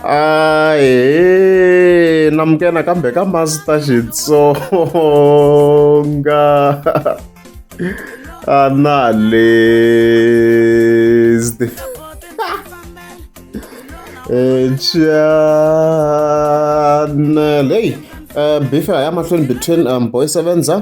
ahe namukena kambe ka masita xitsonga analyst eh, channel hey uh, eh, before i am between um, boy sevenza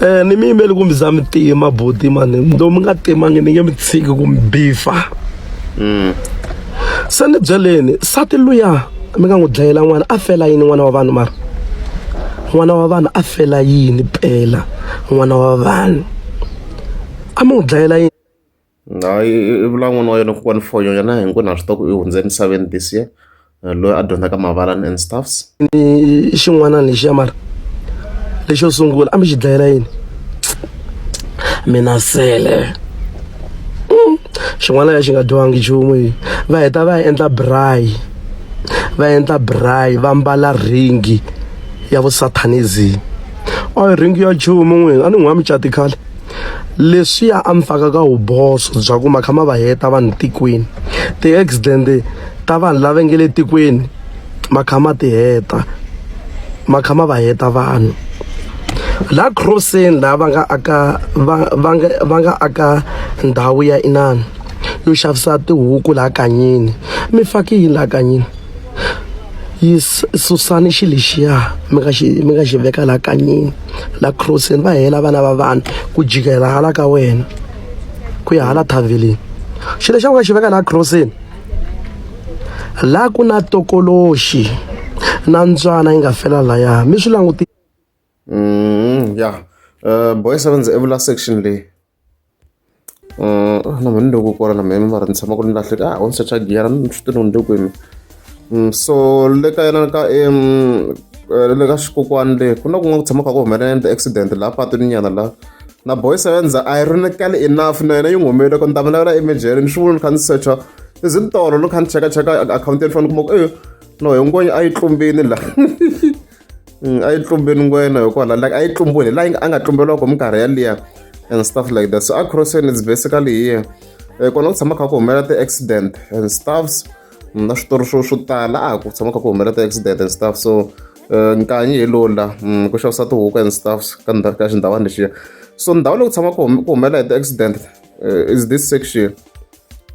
Eh ni mi yimeli ku mi za mi tiye mabuti mani ndo mi nga timangi ni nge mi tshiki ku mi bifa se ni byeleni sati luya mi nga n'wi dlayela n'wana a fela yini n'wana wa vanhu mara n'wana wa vanhu a fela yini pela n'wana wa vanhu a mi n'wi dlayela yini Hayi i vula n'wana wa yena kokwani for yena hi ku na swi tiva ku i hundze emisaveni this year loyi a dyondzaka mavalani and stuffs ni xin'wana lexiya mara lexo sungula a mi xi dlayela yini mina sele hmm. xin'wana ya xi nga dyiwangi nchumu yi va heta va ya endla braai va endla braai va mbala ringi ya vusathanism a ringi ya nchumu n'wini a ni n'wi wa mucati khale leswiya a mi faka ka vuboso bya ku ma kha ma va heta vanhu tikweni ti-accident ta vanhu lava nge le tikweni ma kha ma ti heta ma kha ma va heta vanhu la crosseni laha va nga aka va va nga va nga aka ndhawu ya inani yo xavisa tihuku laha kanyini mi faki yini laha kanyini yi susani xi lexiya mi nga xi mi nga xi veka laha kanyini la crossini va hela vana va vanhu ku jikela hala ka wena ku ya hala thaveleni xilo xa ku nga xi veka la crossini la ku na tokoloxi na ntswana yi nga fela laya mi swi languti mm, ya eh, boy sevenz evula section leyi na mehe ni le ku kora na mehe ni mara ni tshama ku ni lahleka a ho ni secha giya ni swi tiva ni le kwini so le ka yena ka le ka xikokwani le ku na kun'wana ku tshama kha ku humelela ti-accident laha patwini nyana la na boy sevenza a yi rinakali enough na yena yi n'wi humelele ku ni ta mi lavela emejele ni swi vula ni kha ni secha is it tolo ni kha ni chekacheka akhawunti ya ni fanele ni kuma ku e no hinkwenu a yi tlumbile la Mm, a yi tlumbeni ngwena hikuva la like a yi tlumbuni la a nga tlumberiwa ku minkarhi yaliya and stuff like that so a crossing is basically here eh, kona ku tshama kha ku humelela ti-accident and stuffs mm, na switori swo swo tala a ku tshama kha ku humelela ti-accident and stuff so eh, nkanyi hi lowu la mm, ku xavisa tihuku and stuffs ka ka xindhawani lexiya so ndhawu leyi ku tshama ku humelela hi ti-accident uh, is this section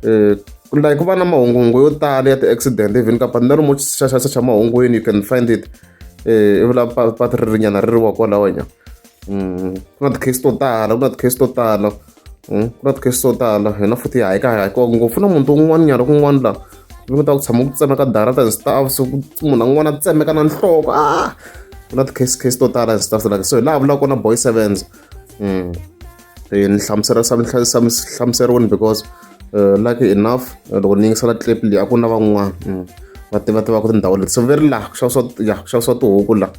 uh, like ku va na mahunguhungu yo tala ya ti-accident even ka pati na lomu xaxaxa xa mahungwini you can find it eh, i vula pati ri rinyana ri ri wa kwalawanya mm, ku na ti-case to tala ku na ti-case to tala mm, ku na ti-case to tala hina futhi hayi ka hayikiwa ngopfu na munhu to un'wana nyana kun'wana laha mi ku ta ku tshama ku tsemeka darata and stuff so munhu an'wana a tsemeka na nhloko a ah! ku na ti-case case to tala and stuff like so hi laha vulaka kona boy sevens mm. eh, ni hlamusela hlamuseriweni because eh, lucky enough eh, loko ni yingisela clip leyi a ku na van'wana mm, va tiva tivaka tindhawu leti so ve ri laha ku xavisiwa ya ku xavisiwa tihuku laha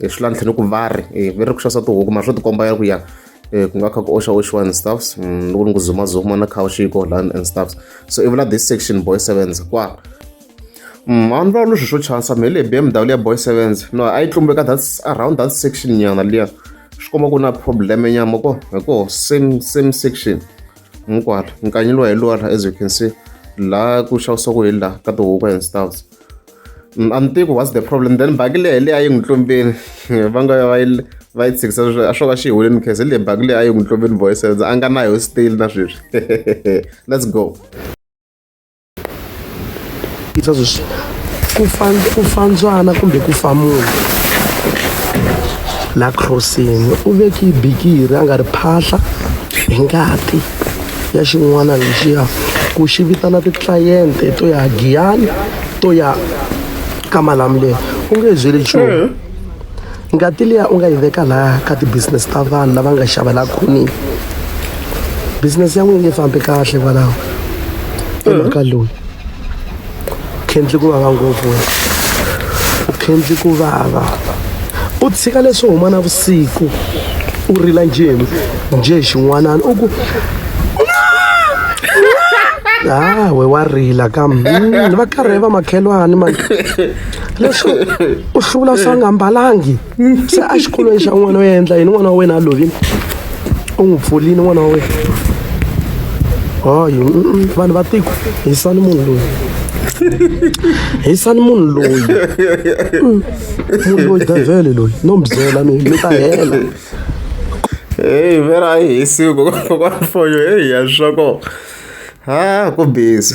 hi swi lantlheni ku va ri ve ri ku xavisiwa tihuku mara swo tikomba ya ku ya Eh, ku nga kha ku oxa oxiwa and stuffs mm, loko ni ku zumazuma na khawuxiko lan and stuffs so ivula this section boy sevenza kwa Mm, a ni vulavuli swilo swo chasa mhe leyi BMW ya boy sevens no a yi tlumbe ka that around that section nyana liya swi komba ku na problem nyama ko hi koho same same section hinkwato nkanyi lowa hi lowa la as you can see laha ku xavisiwaku hi laha ka tihuku and stuffs mm, a ni tivi ku what's the problem then baki leyi hi leyi a yi n'wi tlumbeni va nga va yi va yi tshikisa leswi a swo ka xi hi huleni khese leyi baki leyi a yi n'wi tlumbeni boy sevens a nga na yo still na sweswi let's go yisa sweswi ku fa ku fa ndzwana kumbe ku fa munhu la crossing u veki bikiri a nga ri phahla hi ngati ya xin'wana lexiya ku xi vitana titlayente to ya giyani to ya ka malamuleni u nge byeli nchumu ngati liya u nga yi veka laha ka ti-business ta vanhu lava nga xava laha khonile business ya n'wini yi fambi kahle kwalaho emhaka mm. loyi khendli ku vava ngopfu wena u khendli ku vava u tshika leswi huma na vusiku u rila njheni njhe xin'wanana u ku hawe wa rila kambe mm, va karhe va makhelwani mani leswi u hlula swa nga mbalangi se a xikolweni xa n'wana u ya endla yini n'wana wa wena a lovile u n'wi pfulini n'wana wa wena hayi vanhu va tiko hisani munhu loyi hisani munhu loyi mm. munhu loyi devele loyi no mi byela mi mi ta hela heyi vhera a yi hisiwi kokwana foyo heyi ya swa kona ha ku busy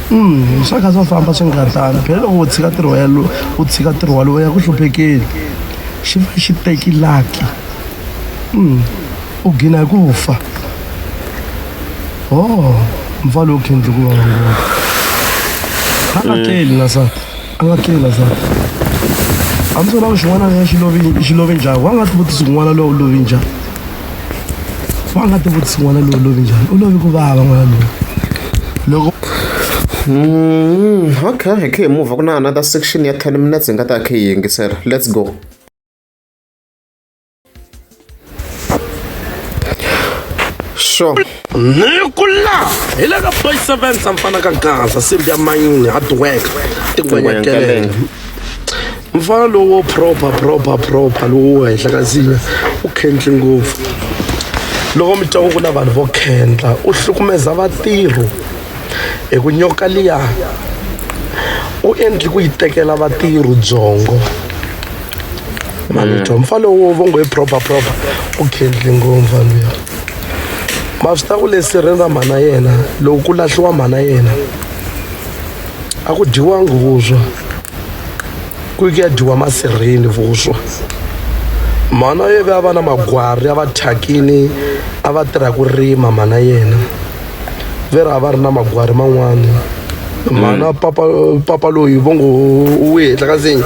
Mm, swa kha swa famba swi nga tani phela loko u tshika ntirho ya lo u tshika ntirho walowo ya ku hluphekeli xi va xi teki laki mm, u gina hi ku fa o mfa lowu khendli ku va ngopfu a nga tleli na sati a nga tleli lazaro a mi swi vona xin'wana na xi lovi xi lovi njhani wa nga tivutisi n'wana lowu lovi njhani wa nga tivutisi n'wana lowu lovi njhani u lovi ku vava n'wana lowu loko Mm, okay, hi khe hi move ku na another section ya 10 minutes hi nga ta khe hi yingisela. Let's go. sure ni ku laha hi le ka boy seven samfana ka gaza simbi ya mayini hardwork tingwenyakelele mfana lowo proper proper proper lowo henhla ka ziya u khendli ngopfu loko mi twa ku ku na vanhu vo khendla u hlukumeza vatirhi hi ku nyoka liya u endli ku yi tekela vatirhi byongo mavito mm. mfana wo vo ngo i proper proper u khendli ngo mfana luya ma swi ta ku lesirheni ra mhana yena loko ku lahliwa mhana yena a ku dyiwangi vuswa ku yi ku ya dyiwa masirheni vuswa mhana ye ve a va na magwari a va thyakini a va tirha ku rima mhana yena ve ri a va ri na magwari man'wana mhana mm. papa papa loyi vo ngo u hetla ka nsinya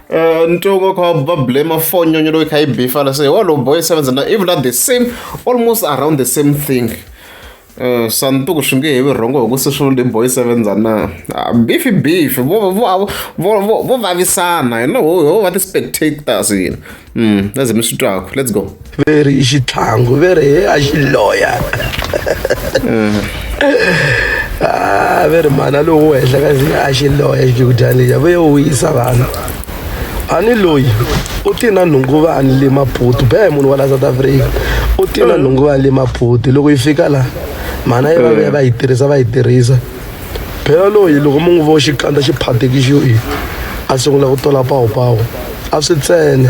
Eh, ni twe nga kha va blame phone nyonyo loyi kha yi bifa la se wa low boy seven na even at the same almost around the same thing eh, swa ni tuku swi nge hevi rhongo hi ku se swi le boy seven za na ah, beef beef vo vo vo vo vavisana you know ho va ti spectators yini mm lazima swi twaku let's go veri i xitlhangu veri he a xi loya ah, veri mana lowu wo henhla ka zina a xi loya xigudyani ya vuye wu yisa vanhu ani loyi u ti na nhunguvani le maputu bee munhu wa la south africa u ti na nhunguvani le maputu loko yi fika la mana yi va vuya va yi tirhisa va yi tirhisa phela loyi loko mu n'wi vo xikandza xi phatikixiwi a sungula ku tola pawupawu a swi tsene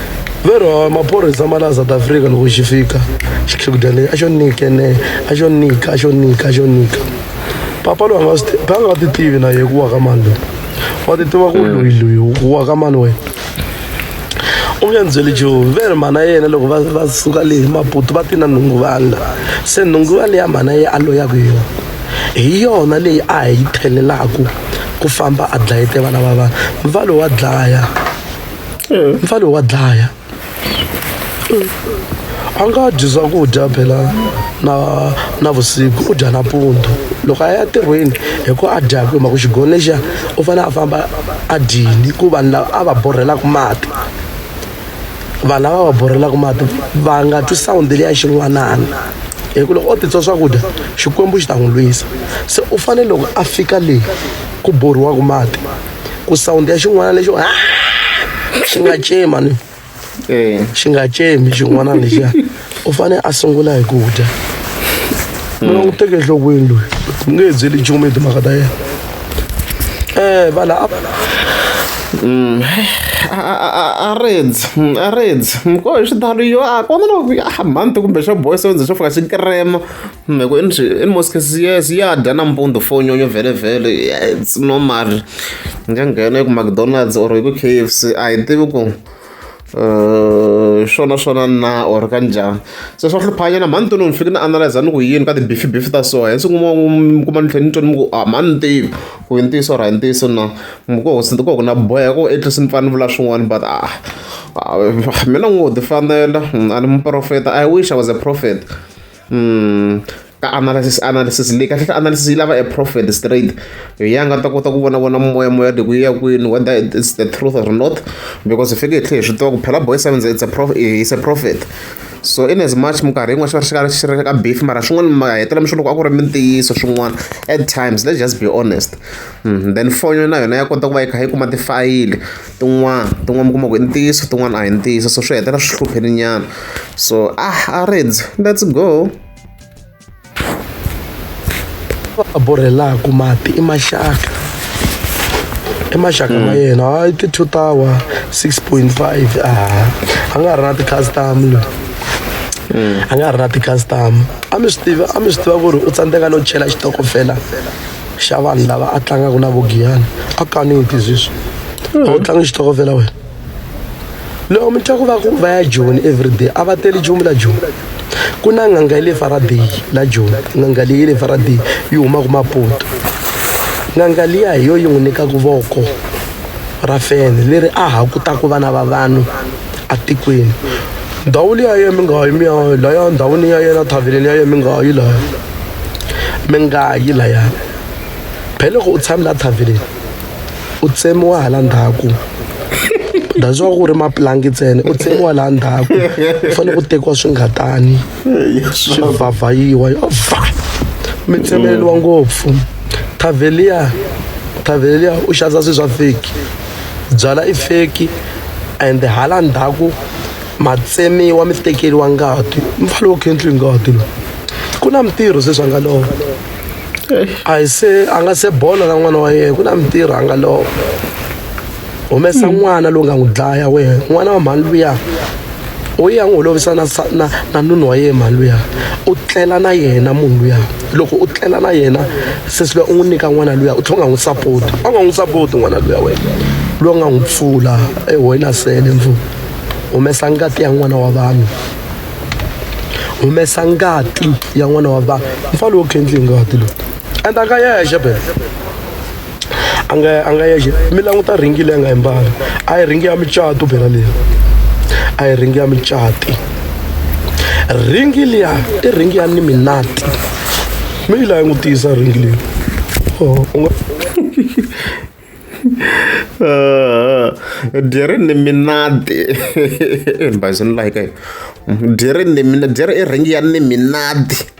lero maphorisa ma la south africa loko xi fika xikhikudya lexi a xo nyike ne a xo nyika a xo nyika a xo nyika papa loyi anga swi ti- a nga ti tivi na ye ku wa ka mani loyi wa ti tiva ku loyi loyi ku wa ka mani wena u nge ndzi byeli joe ve ri mhana yena loko va va suka le hi maputu va ti na nhunguvanga se nhunguva leya mhana ye a loyaku hi yona hi yona leyi a hi yi thelelaku ku famba a dlayete vana va vanhu mva loyi wa dlaya eh. mfana wa dlaya eh. a nga dyi swakudya phela na na vusiku u dya na pundu loko a ya tirhweni hi ku a dyaka hi mhaka xigoni lexiya u fanele a famba a dyini ku vanhu lava a va borhelaka mati vanhu lava va borhelaka mati va nga twi sawundi leya xin'wanana hi ku loko o titswa swakudya xikwembu xi ta n'wi lwisa se u fanele loko a fika leyi ku borhiwaka mati ku sound ya xin'wana lexo xi nga cema ni eh. xi nga cemi xin'wana lexiya u fanele a sungula hi ku dya hmm. loko u teke enhlokweni loyi u nge byeli nchumu hi timhaka ta yena um vala hmm. arendzi hmm, arendzi mkoho hi xitalo yo a kona loko a mhanti kumbe xo boy so ndzi xo fika xi krema Hi ku in in most cases yes ya dya nampundzu for nyonyo vhele it's normal ni nga nghena eku McDonald's or hi ku K_F_C a hi tivi ku swona eh, swona na or ka njhani se swa hluphanyana mhani toni ni fike ni analyza ni ku yini ka ti-beef beef ta so hi siku kuma kuma ni tlhela ni twa ni ku a ah, mhani tivi ku yi ntiyiso ra hi ntiyiso na ko ko ku na boya ko at least ni pfana ni vula swin'wana but ah, ah mina n'wi wo tifanela a ni muprofeta i wish i was a prophet Hmm, ka analysis analysis leyi kahle analysis yi lava a prophet straight hi ya nga ta kota ku vonavona moya moya de ku ya kwini whether it's the truth or not because hi fike hi tlhe hi swi tiva ku phela boy sevens it's a prophet is a prophet so in as much minkarhi yin'wana xi va xi ri ka beef mara swin'wana ma hetela mi swi loko a ku ri mintiyiso swin'wana at times let's just be honest hmm, then fonyo na yona ya kota ku va yi kha yi kuma tifayili tin'wana tin'wana mi kuma ku i ntiyiso tin'wana a hi ntiyiso so swi hetelela swi hlupheni nyana so ah a reds let's go va borhelaka mati i maxaka i maxaka ma hmm. yena hayi ti-two tower six point five a a nga ha ri na ti-custom loyi hmm. a nga ha ri na ti-custom a mi swi tiva a mi swi tiva ku ri u tsandzeka no chela xitokofela xa vanhu lava a tlangaka na vogiyani a kani u tiziswa hmm. a wu tlangi xitokofela wena loko mi twa ku va ku va ya joni everyday a va teli joni la joni ku na n'anga ya le faraday la joni n'anga leyi le faraday yi humaka mapoto n'anga liya hi yo yi n'wi nyikaka voko ra fene leri a ha kutaka vana va vanhu etikweni ndhawu liya ya mi nga yi mi ya laya ndhawini ya yena thaveleni ya yena mi nga yi laya mi nga yi laya phele loko u tshame la thaveleni u tsemiwa hala ndhaku that's why ku ri mapulangi ntsena u tsemiwa laha ndhaku u fanele ku tekiwa swingatani swi vhavhayiwa va mi tsemeleriwa ngopfu thaveliya thaveliya u xavisa swilo swa feki byala i feki and hala ndzhaku matsemiwa mi tekeriwa ngati mfana wo khendliwi ngati loyi ku na mitirho sweswi a nga lova a hi se a nga se bola na n'wana wa yena ku na mitirho a nga lova humesa n'wana lowu nga n'wi dlaya wena n'wana wa mhani luya u ya n'wi holovisa na na na nunu wa yena mhani luya u tlela na yena munhu luya loko u tlela na yena sesi luya u n'wi nyika n'wana luya u tlhela u nga n'wi sapoti a nga n'wi sapoti n'wana luya wena loyi nga n'wi pfula ehoyina sele ndzu humesa ngati ya n'wana wa vanhu humesa ngati ya n'wana wa vanhu mfana lowo khendli ngati lowu endla ka yexe bebe a nga a nga yexe mi languta ringi leyi a nga yi mbala a yi ringi ya micato bela leyi a yi ringi ya micati ringi liya i ringi ya niminati mi yi layi n'wi tiyisa ringi leyi oh, u nga dyeri ni minati bazi ni layika dyeri ni mina dyeri i ringi ya ni minati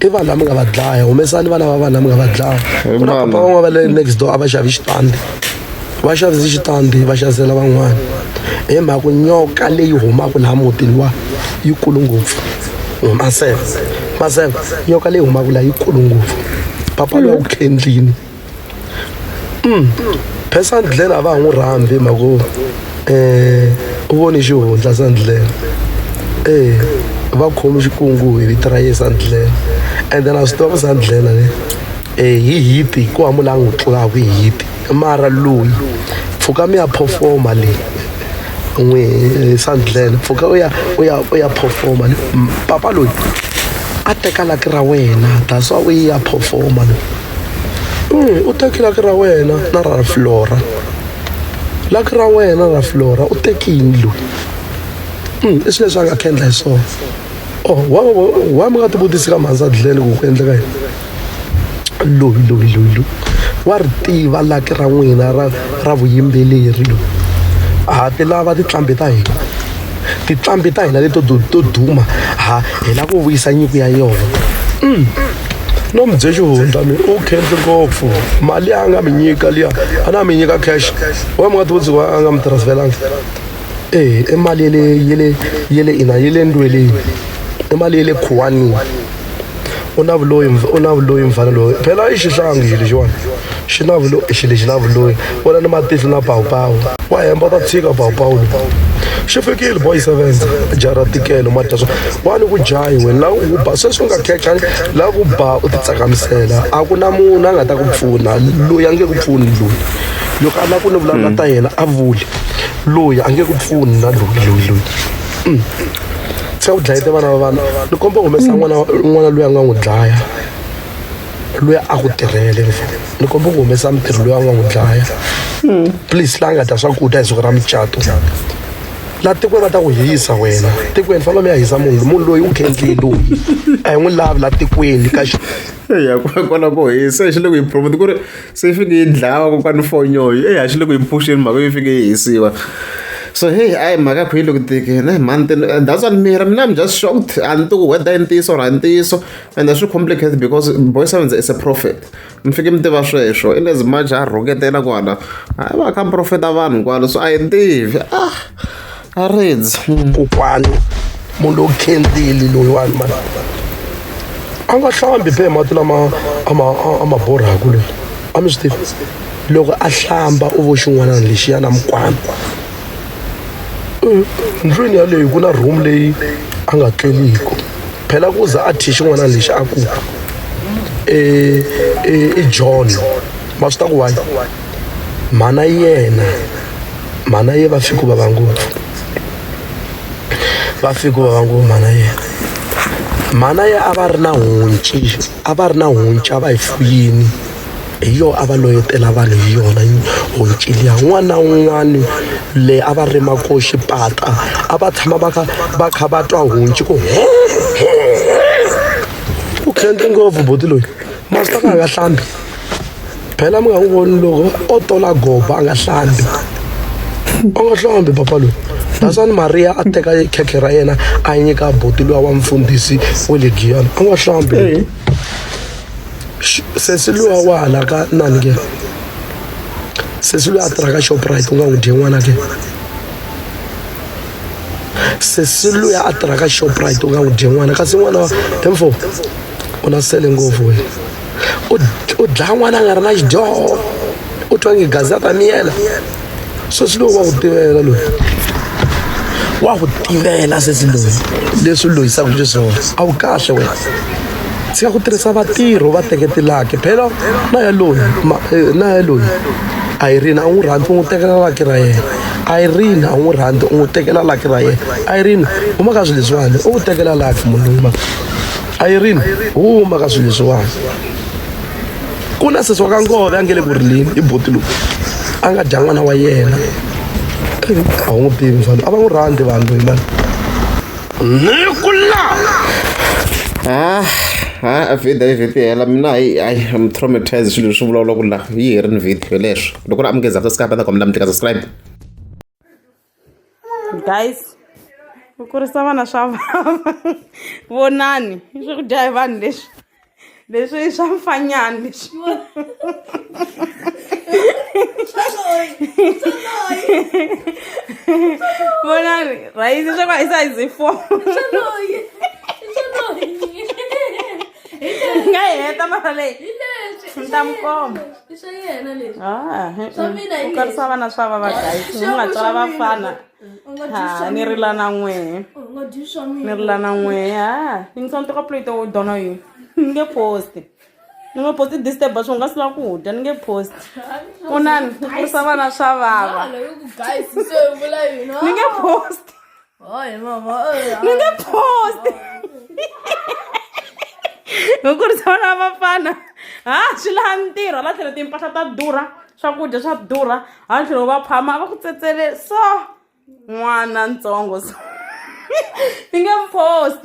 i vanhu lava mi nga va dlaya humesani vana va vanhu lava mi nga va dlaya ku na papa van'wana va le next door a va xavi xitandi va xavise xitandi va xavisela van'wana hi mhaka ku nyoka leyi humaka laha mutini wa yi kulu ngopfu maseve maseve nyoka leyi humaka laha yi kulu ngopfu papa loyi a ku khendlini phe sandleni a va ha n'wi rhambi hi mhaka um eh, u voni xihundla sandleni e eh, va khomi xikungu hi vito ra ye sandleni ende na swi tiva ku sandlena le um hi hiti ku wa mula n'wi tlulaku hi hiti mara loyi pfuka mi ya performa leyi n'wi eh, sandlena pfuka u ya u ya u ya performa le papa loyi a teka laki ra wena that's why u yi ya performa loyi Mm, u teki laki ra wena na ra flora laki ra wena ra flora u teki yindlu mm, i swi leswi a nga kendla hi swona o oh, wa wa mi nga tivutisi ka mhandza dlele ku ku endleka yini loyi loyi loyi loyi wa ri tiva laki ra n'wina ra ra vuyimbeleri loyi ha ti lava tiqambi ta hina tiqambi ta hina leto to duma ha hi lava ku vuyisa nyiko ya yona mm. no mi bye xihundla mi u khenhle ngopfu mali ya a nga mi nyika liya a na mi nyika cash wa mi nga ti vutsiwa a nga mi transferanga e i mali yele yele yele ina yele ndweleni i mali yele khuwanini u na vuloyi u na vuloyi mfana loyi phela i xihlangi xi lexiwani xi na vulo xi lexi na vuloyi vona ni matihlo na pawupawu wa hemba u ta tshika pawupawu lowu xi fikile boy seven jara tikelo ma dya swa wa ni ku jahi we la u ba sweswi u nga khekha la ku ba u titsakamisela a ku na munhu a nga ta ku pfuna loyi a nge ku pfuni loyi loko a la ku ni vulavula ta yena a vuli loyi a nge ku pfuni na loyi loyi loyi Mm. se u dlayete vana va vana ni komba u humesa n'wana n'wana loyi a nga n'wi dlaya loyi a ku tirhele ni komba ku humesa mitirho loyi a nga n'wi dlaya hmm. please la nga dya swakudya hi siku ra mucato la tikweni va ta ku hisa wena tikweni fanele mi ya hisa munhu munhu loyi u khendliye loyi a hi n'wi lavi la tikweni ka eya kona ko hisa hi xi le ku yi promote ku ri se yi fike yi dlawa kokwani fonyoyo eya xi le ku yi phuxeni mhaka yi fike yi hisiwa so heyi a yi mhaka khwiyi loko tikini mhani tini that's one mira mina i'm just shocked a ni ti ku whether i ntiyiso or a ntiyiso ende swi complicated because boy sevenze is a prophet mi fike mi tiva sweswo in as much a rhuketela kwala hayi va kha mi profeta vanhu kwalo so a hi tivi ah a ridzi kokwani munhu lowu khendzeli loyiwani mani a nga hlambi phe mati lama a ma borhaku loyi a mi swi tivi loko a hlamba u vo xin'wanana lexiyana mikwama ndlwini yaleyo ku na room leyi a nga tleliku phela ku za a thye xin'wana lexi a ku e, e, i john ma swi ta ku wayi mhana yena mhana ye va fiki ku vava ngopfu va fiki ku vava ngopfu mhana yena mhana ye a va ri na honci a va ri na honci a va yi fuyini hi yona a va loyetela vanhu hi yona honcili ya un'wana na un'wana leyi a va rima ko xipata a va tshama va kha va kha va twa honci ku u khendle ngopfu buti loyi masita ka nga hlambi phela mi nga n'wi voni loko o tola goba a nga hlambi u nga hlambi papa loyi dasani maria a teka khekhe ra yena a nyika buti loyi wa mfundhisi wa le giyana a nga hlambi sesi luwa wa hala ka nani ke sesi luya a tirha ka shoprite u nga n'wi dye n'wana ke sesi luya a tirha ka shoprite u nga n'wi dye n'wana kasi n'wana emfo u na sele ngopfu we u dlaya n'wana a nga ri na xidyoho u twa nge gazi a ta miyela sweswi loyi wa ku tivela loyi wa ku tivela sesi loyi leswi u lohisaka xiswona a wu kahle wena tshika ku tirhisa vatirho va teketelaki phela na yaloyi eh, na yaloyi a yi rina a n'wi rhandzi u n'wi tekela laki ra yena irene a wu n'wi rhandzi u n'wi tekela laki ra yena irene huma ka swilo leswiwani u n'wi tekela laki munhu loyi ma irene huma ka swilo leswiwani ku na sesi wa ka nkove a nge le ku rileni i boti lowu a nga dya n'wana wa yena a wu n'wi tivi swa a va n'wi rhandzi vanhu loyi mani ni ku la ah ha vhida yi vhida hela mina hayi hayi am traumatized swilo leswi vulavula ku la yi herini vhida leswo loko ri amukeza after skype a ta kombela mi tleka subscribe guys ku kurisa vana swa vava vonani i swakudya hi vanhu leswi leswi i swa mfanyana leswi vonani rhayisi swa ku a yi sa yi zi four nga yi heta mara leyi ni ta mi komba i swa yena leswi Ah, eh, Swa eh. mina hi ku karisa leswi. vana swa vava guys Swa mi nga mina, tswala swa mina. vafana U nga dyi swa ha ni mina. rila na n'wehe U nga dyi swa ni mina rila na n'wehe ha yingisa ni teka plate wo dona yini ni nge posti ni nge posti disturb swi nga sila ku dya ni nge posti u nani ku kurisa vana swa vava Hala, yo ku guys se u vula yini ni nge posti Ay mama. Nunge post. Hi ku ri swona vafana. Ha swi laha ntirho hala tlhelo timpahla ta durha, swakudya swa durha, hala tlhelo va phama va ku tsetsele so n'wana ntsongo so. Ni nge mu post.